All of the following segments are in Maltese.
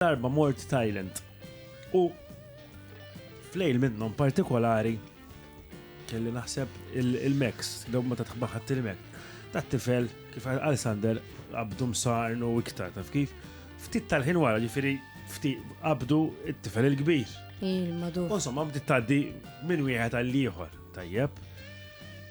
darba mort Thailand. U flejl minnhom partikolari kelli naħseb il-Mex, daw ma tatħbaħat il-Mex. Ta' tifel, kif għal Sander, għabdu msarnu iktar, taf kif? Ftit tal-ħin wara ġifiri, ftit għabdu it-tifel il-kbir. Il-madu. Insomma, bdiet taddi minn wieħed għall-ieħor, tajjeb.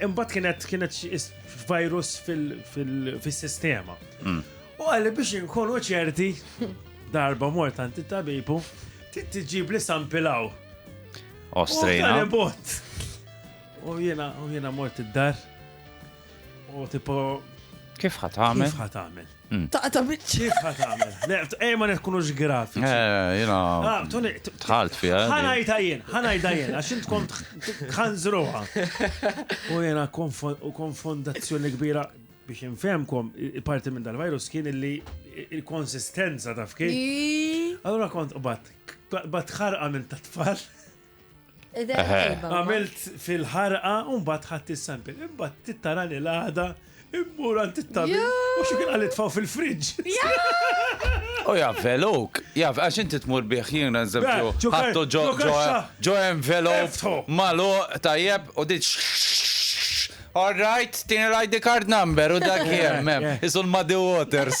Imbagħad kienet kienet virus fil-sistema. Mm. U għalli biex inkunu ċerti darba mort għanti tabibu tiġib li sampilaw. Ostrejna. U jena, u jena mort id-dar. U tipo. Kif ħatamel? Kif ħatamel? Taqta' biċċa. Kif ħa tagħmel? Le, ej ma nkunux grafiċi. Eh, jiena. Ah, Tony, t- Dħalt fiha. ħa ngħidha jien, ħa ngħidha jien, għax int kont ħanżruha. U jiena konfo- u konfondazzjoni kbira biex infehmkom, i- il-parti minn dal-virus kien illi i- il-konsistenza taf kif. Allora kont qbad, qbad ħarqa minn ta' tfal. Għamilt fil-ħarqa un bat ħadd is-sample. Imbat tittarani l-għada immur għand it-tabi. U xi kien għalit faw fil-fridġ. U jaf veluk, jaf għax inti tmur bih jien eżempju. Ħattu ġo ġo envelop malu tajjeb u diċ. All right, tini l-ID card number u dak jemmem. Isul Muddy Waters.